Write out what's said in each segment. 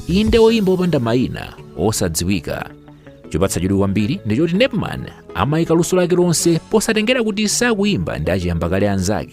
inde oyimba opanda mayina osadziwika chopatsa chidwi kwambiri ndi choti nepman amayika luso lake lonse posatengera kuti sakuyimba ndi achiyamba kale anzake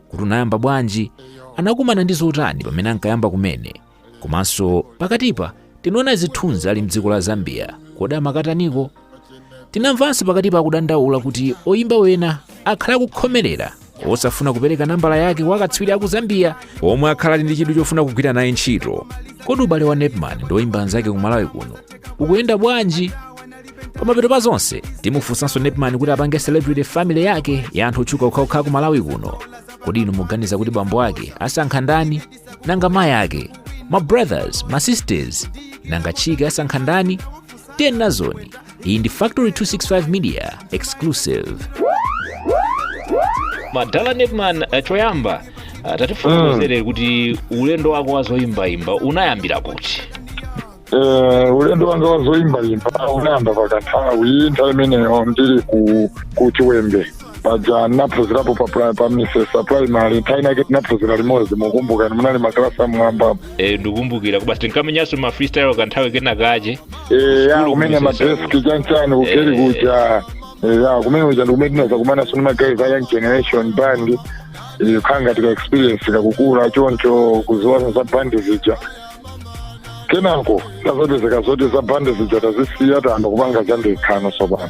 kuti unayamba bwanji anakumana ndi zotani pamene ankayamba kumene komanso pakatipa tinaona zithunzi ali mdziko la zambia kodi amakataniko tinamvanso pakatipa akudandaula kuti oyimba wena akhala akukhomerera osafuna kupereka nambala yake kwa akatswiri aku zambia omwe akhala ali ndi chidwi chofuna kugwira naye ntchito kodi ubale wa nepman ndi oyimba anzake ku malawi kuno ukuyenda bwanji pamapeto pa zonse timufunsanso nepman kuti apange celebrity family yake ya anthu otchuka okhaokha ku malawi kuno kodi inu muganiza kuti bambo ake asankha ndani nanga mayi ake ma brothers ma sisters nanga chick asankha ndani tiyeni nazoni iyi ndi factory 265 media exclusive madala nepman eh, choyamba ah, tatifotokozere kuti ulendo wako wazoyimbayimba unayambira kuti Eh, ulendo wanga wa zoyimbayimba unayamba pakanthawi nthawi imeneyo ndili ku ku chiwembe paja ndinaphunzirapo pa pri- pa misesa primary nthawi inake tinaphunzira limodzi mukumbuka munali makalasi amwamba Eh, ndikumbukira kuti basi tinkamenyanso ma freestyle kanthawi kena kache Eh, ya Sukulu kumenya kumisesa. madeski chanchani kugeri Eh. kuja Eh, ya kumenya kuja ndikumene tinazakumanaso ndi magayi a young generation band Eh, kukhala ngati ka experience ikukula choncho kuziwa za bandi zija kenako idazapezeka zoti za bandi zija tazisiya tayamba kupanga zandekha no sopano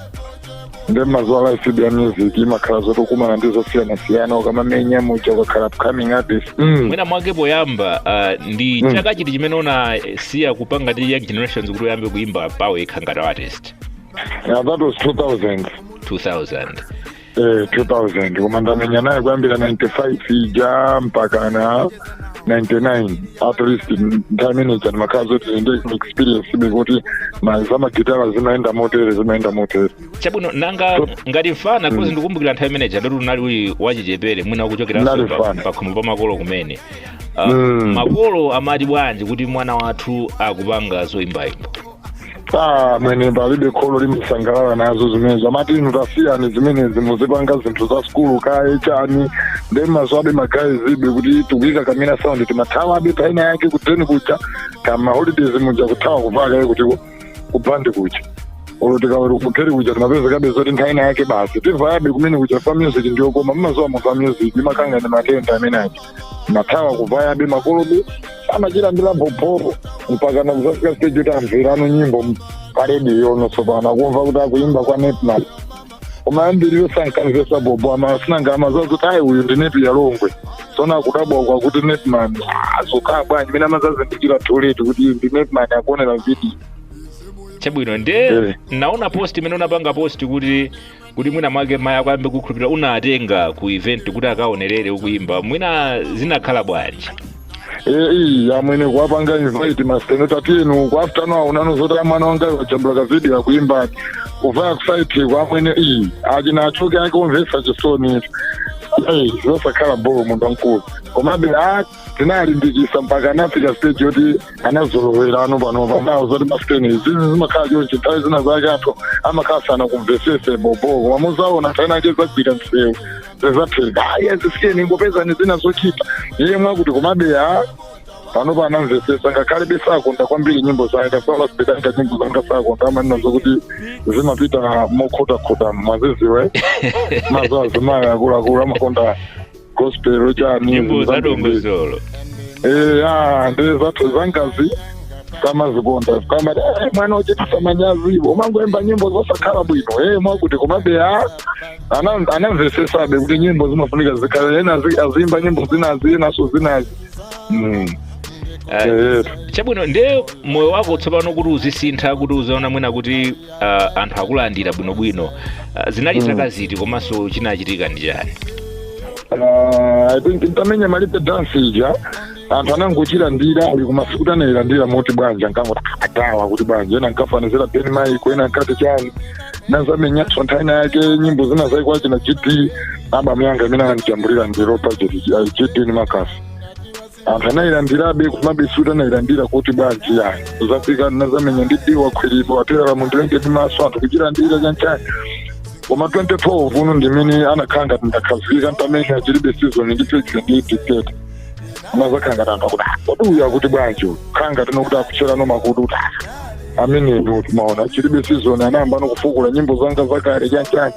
nde mmaziwa life ya music imakhala zoti ukumana ndi zosiyanasiyana ukamamenya muja ukakhala upcoming artist mm. mwina mwake poyamba uh, ndi Mm. chaka chiti chimene unasiya kupanga ndi young generations kuti uyambe kuimba pawekha ngati artist yeah, that was 2000 2000 eh, 2000 koma ndamenya naye kuyambira 95 ija mpaka na 99 at least nthawi imeneja ndimakhala zoti ndi experience be kuti ma- za magitara zimayenda motere zimayenda motere chabwino nanga ngati mfana coz ndikumbukira nthawi imeneja ndoti unali uli wachichepere mwina ukuchokera Ndinali pa- mfana. pakhomo pa makolo kumene Ah, Mm. makolo amati bwanji kuti mwana wathu akupanga zoyimbayimba Ah, mwene palibe kholo limasangalala nazo zimenezo amati inu tasiyani zimenezi muzipanga zinthu za sukulu kaye chani nde mmaziwabe magayi zija be kuti tikuyika ka mini sound timathawabe penapa yake kuteni kuja kama holidays muja kuthawa kuvaya kaye kuti kubandi kuja olo tikabwera kugeri kuja timapezekabe zoti nthawi ina yake basi tivayabe kumene kuja chifa music ndiyokoma mmaziwa muva music imakhala ngati matenda amene aja mathawa kuvayabe makolobe samachilandira bobo mpaka nakuzafika stage kuti amverano nyimbo m- pa rediyo ono tsopano akumva kuti akuimba kwa Nepman koma ambiriyo sankamvesesa bobo ama sinanga amazazi kuti ayi uyu ndi Nepiyala Longwe sono akudabwa kwa kuti Nepman azokhala bwanji mene amazazindikira too late kuti ndi Nepman akuonera vidiyo chabwino nde Eh. naona post imene unapanga post kuti kuti mwina mwake mayi ako ayambe kukhulupirira unatenga ku event kuti akaonerere ukuyimba mwina zinakhala bwanji eyi amwene kuwapanga invite masiteni tatiyeni ku afternoon aonano zoti mwana wanga wajambula kavidiyo akuimbani kuvaya kusaiti kwa amwene iyi achina achoke ake omvesa chisoni eyi zosakhala boo munthu wamkulu komabe a tinalimbikisa mpaka anafika stage yoti anazolowera ano panopa nawo zoti masiteni izizi zimakhala chonchi nthawi zina zake anthu amakhala sanakumvesese bobo koma muzaona nthawi inayake zagwira msewu zezapheka ayi azisiyeni ingopezani zina zochita iye mwakuti komabe eya panopa anamvesesa ngakhalebe sakonda kwambiri nyimbo zaye tasola sipedanga nyimbo zanga sakonda amanena zokuti zimapita mokhotakhota mwaziziwe mazo azimayi akuluakulu amakonda gospel chani nyimbo zadongosolo eh ah ndiye zathu zangazi samazikonda kama eh, mwana uchitisa manyazi umangoimba nyimbo zosakhala bwino eh mwakuti komabe ah ana- anamvesesabe kuti nyimbo zimafunika zikhale ena azi- aziyimba nyimbo zinazi enaso zinazi Mm. Ah, Eh, chabwino ndiye moyo wako tsopano kuti uzisintha kuti uzaona mwina kuti uh, anthu akulandira bwinobwino uh, zinali mm. zaka ziti komanso chinachitika ndi chani ah, ntamenya Malipe dansi ija anthu anangochilandira ayi koma sikuti anailandira moti bwanji ankangodabwa kuti bwanji ena ankafanizira Ben Michael ena ankati chani nazamenyanso nthawi ina yake nyimbo zina zake kwachina GD abamu yanga imene anandijambulira ndi Lo Budget GD ni Marcus anthu anayilandirabe komabe sikuti anayilandira kuti bwanji yayi uzafika nazamenya ndi Diwa Khwiliro atelala mundilinge ndi maso anthu kuchilandira chanchani koma 2012 uno ndimene anakhala ngati ndakhazikika ntamenya chilibe season ndi Piksy ndi Dictator anazakhala ngati anthu akuti "Ah, kodi uyu akuti bwanji uyu khala ngati nokuti akutcherano makutu kuti "Ah, ameneyo timaona chilibe season anayamba no kufukula nyimbo zanga zakale chanchani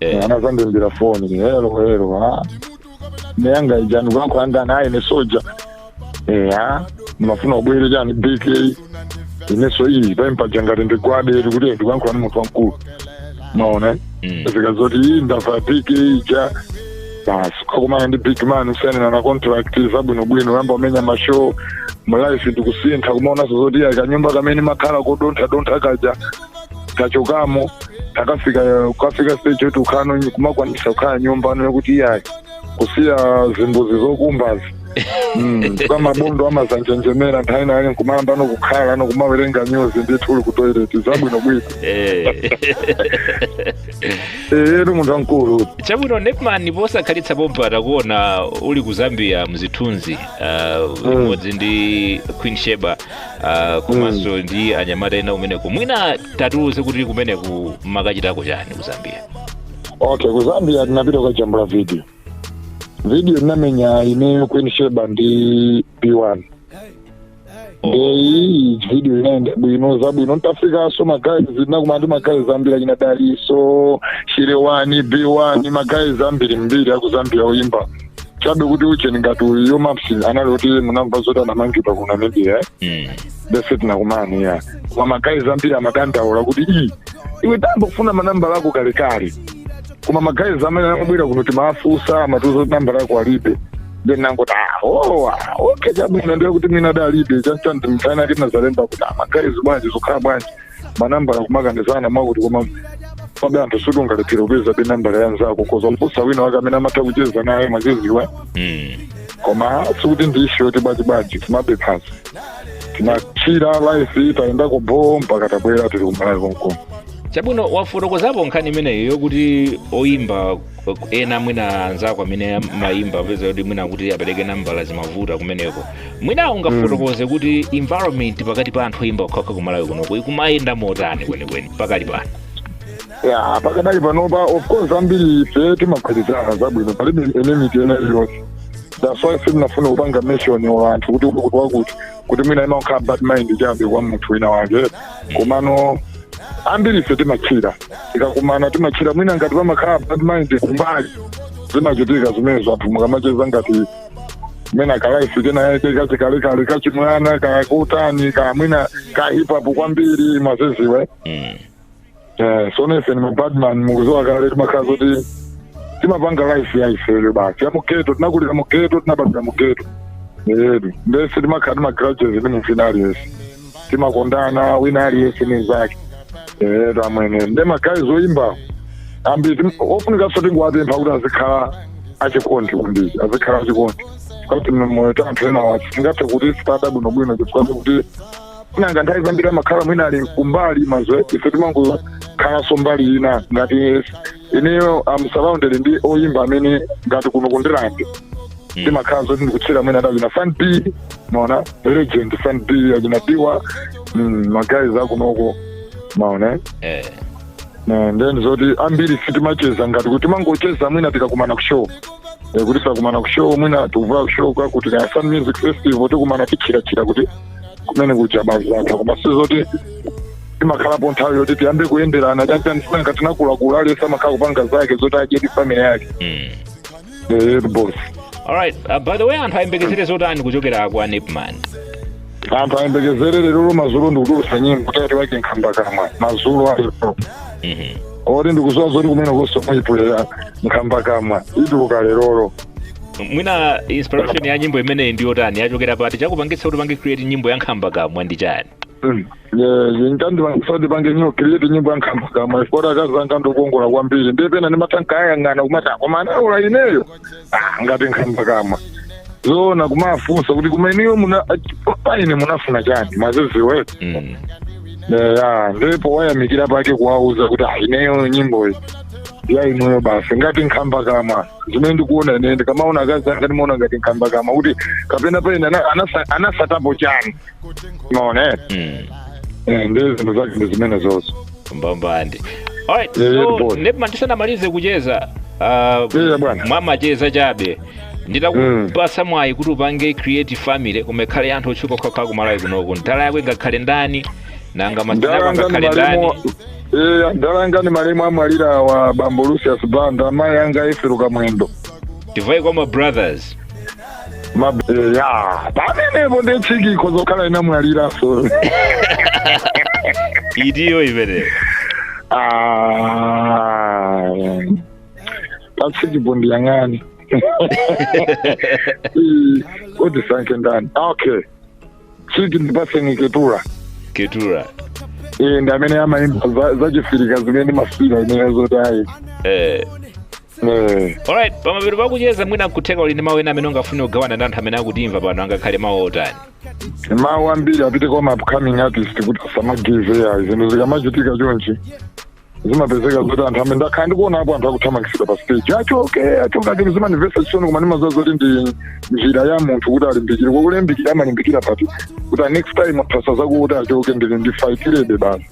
eh anazandiimbira foni hello hello ha neyanga ijani ukuyankhula naye ne soja eya ndimafuna ubwere chani BK ineso iyi pompaja ngati ndigwade iri kuti ndikuyankhula ni munthu wamkulu maona mm. zikazoti iyi ndavaya BK ija basi ukakumana ndi big man usainirana contract zabwinobwino yamba umenya mashow mu life ndikusintha kumaonanso zoti iya kanyumba kamene makhala kodonthadontha kaja tachokamo takafika kukafika stage yoti ukhano kumakwanisa kukhala nyumba ano yokuti iyayi kusiya zimbuzi zokumbazi Mm, kwa mabondo amazanjenjemera nthawi inayake nkumayamba ano kukhala ano kumawerenga nyuzi ndithu uli ku toilet zabwinobwino Eh. eyeni munthu wamkulu chabwino nepman posakhalitsa pompa takuona uli ku zambia mzithunzi uh, limodzi ndi queen sheba ah, komanso ndi anyamata ena kumeneko mwina tatiuze kuti kumeneku mumakachitako chani ku zambia okay ku zambia tinapita kukajambula video video ndinamenya ineyo queen sheba ndi b1 ndeyi video inayenda bwino zabwino ntafikanso magayizi ndinakumana ndi magayizi ambiri achina daliso chile one b1 magayizi ambirimbiri aku zambia oyimba chabe kuti ujeni ngati yo maps anali kuti munamva zoti anamangidwa ku namibia eh? Mm. nde sitinakumane ya koma magayizi ambiri amadandaula kuti i iwe tayamba kufuna manambala ako kalekale koma magayizi amene amabwera kuno timawafunsa amatiuza kuti nambala yako alibe then nangoti aowa okay chabwino ndiye kuti mina dalibe chanchandi mtana ati nazalemba kuti amagayizi bwanji zokhala bwanji manambala kumakanizana mwakuti komabe anthu suti ungalephera kupezabe nambala ya nzako ukhoza kumfunsa wina wake amene amatha kucheza naye macheziwa Mm. koma sikuti ndi ishu yoti bwanjibwanji timabephazi timachira life tayendako bho mpaka tabwera tili kumalawi konkuno chabwino wafotokozapo nkhani imeneyo yokuti oyimba ena mwina anzako amene amayimba apeza kuti mwina kuti apereke nambala zimavuta kumeneko mwina ungafotokoze kuti environment pakati pa anthu oyimba okhaokha ku malawi kunoko ikumayenda motani kwenikweni pakali pano ya pakadali panopa of course ambiri ife timagwirizana zabwino palibe enmity ina iliyonse that's why sindinafune kupanga mention wa anthu kuti wakuti wakuti kuti mwina imakhala bad mind chabe kwa munthu wina wake komano ambiri ife timachira tikakumana timachira mwina ngati pamakhala bad mind kumbali zimachitika zimenezo anthu mukamacheza ngati mwina kalaifu kenakake kachikalekale kachimwana kakutani kamwina ka hip hop kwambiri mwaziziwa Mm. Eh, so nese ni mabadman mukuziwa kale timakhala zoti timapanga life ya ifeyo basi ya mugeto tinakulira mugeto tinabadira mugeto edu nde sitimakhala ndi magrudges ni mfana aliyese timakondana wina aliyese ni zake edu amwene nde magayizi oyimba ambiri ofunikanso tingowapempha kuti azikhala achikondi kwambiri azikhala achikondi kuti moyo tanthu enawa tingathe kuti sitada bwinobwino chifukwa kuti nanga nthawi zambiri amakhala mwina ali kumbali mazwe ife timangokhalanso mbali ina ngati ineyo am surrounded ndi oyimba amene ngati kuno kundirande timakhala zoti ndikucheza mwina adali na fan b maona legend fan b achina diwa mm, magayizi akunoko maona eh. Eh, then zoti ambiri sitimacheza ngati kuti timangocheza mwina tikakumana ku show Eh, kuti tikakumana ku show mwina tikumva ku show kwakuti kaya sand music festival tikumana tichirachira kuti kumene kuja basi zatha koma sizoti timakhalapo nthawi yoti tiyambe kuyenderana chanichani sinanga tinakulakula aliyense amakhala kupanga zake zoti adye ndi family yake mm. Eh, boss alright uh, by the way anthu ayembekezere zotani kuchokera kwa nepman anthu ayembekezere lero mazulo ndikutulusa nyimbo title wake nkhamba kamwa mazulo alipo Mhm. oti ndikuziwa zoti kumene kusomaipulera nkhamba kamwa ituluka lerolo mwina inspiration ya nyimbo imeneyi ndi yotani yachokera pati chakupangitsa kuti upange create nyimbo ya nkhamba kamwa ndi chani Mm. Yes, chandipangisa kuti mpange nyimbo create nyimbo ya nkhamba kamwa chifukwa akazi anga ndi okongola kwambiri ndiye pena ndimatha nkawayang'ana kumati koma analola ineyo Ah, ngati nkhamba kamwa zoona kumafunsa kuti koma inuyo muna paine munafuna chani maziziwe mm. ya ndi powayamikira pake kuwauza kuti "Ah, ineyo nyimboyi ya inuyo basi ngati nkhamba kamwa zimene ndikuona ine ndikamaona akazi anga ndimaona ngati nkhamba kamwa kuti kapena paine ana- anasa- anasatapo chani maona eh? Mm. Eh, ndi zinthu zake ndi zimenezo zonse mbambande alright Yeah, so boy. nepman tisanamalize kucheza uh, Yeah, bwana. mwamacheza chabe nditakupasa mwayi kuti upange create family koma ikhale ya anthu otchuka okhaokha kumalawi kunoko ndala yako ingakhale ndani nanga masteni ako Adala anga angakhale ndani ndi malemu- Eh, adala anga ndi malemu amwalira awa bambo Lucius Banda, amayi anga Ethel Kamwendo. tivaye kwa ma brothers Ma eh, ya, pamenepo ndi chikiko zokhala inamwalira so. itiyo imeneyo Ah. Pachikipo ndiyang'ane. Eh, Kuti nsankhe ndani. Okay. chiki ndipatseni keturah keturah e, ndi amene amayimba za- zachiafirika zimene ndimafira ineyo zoti ayi eh. Eh, alright pamapeto pakucheza mwina kutheka uli ndi mawu ena amene ungafune kugawana ndi anthu amene akutimva pano angakhale mawu otani mawu ambiri apite kwa ma upcoming artist kuti asamagive ayi zinthu zikamachitika chonchi zimapezeka zoti anthu amene ndakhala ndikuonapo anthu akuthamangitsidwa pa stage achoke achoke achoke zimandimvetsa chisoni koma ndimaziwa zoti ndi njira ya munthu kuti alimbikire kwakulimbikira amalimbikira pati kuti next time aphasa zakuti achoke ndili ndifaitirebe basi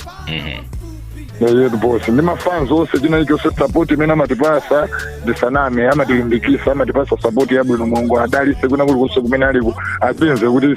yet boss ndi mafans onse china chilichonse support imene amatipasa ndisaname amatilimbikisa amatipasa support yabwino mulungu awadalise kwina kulikonse kumene aliko apeze kuti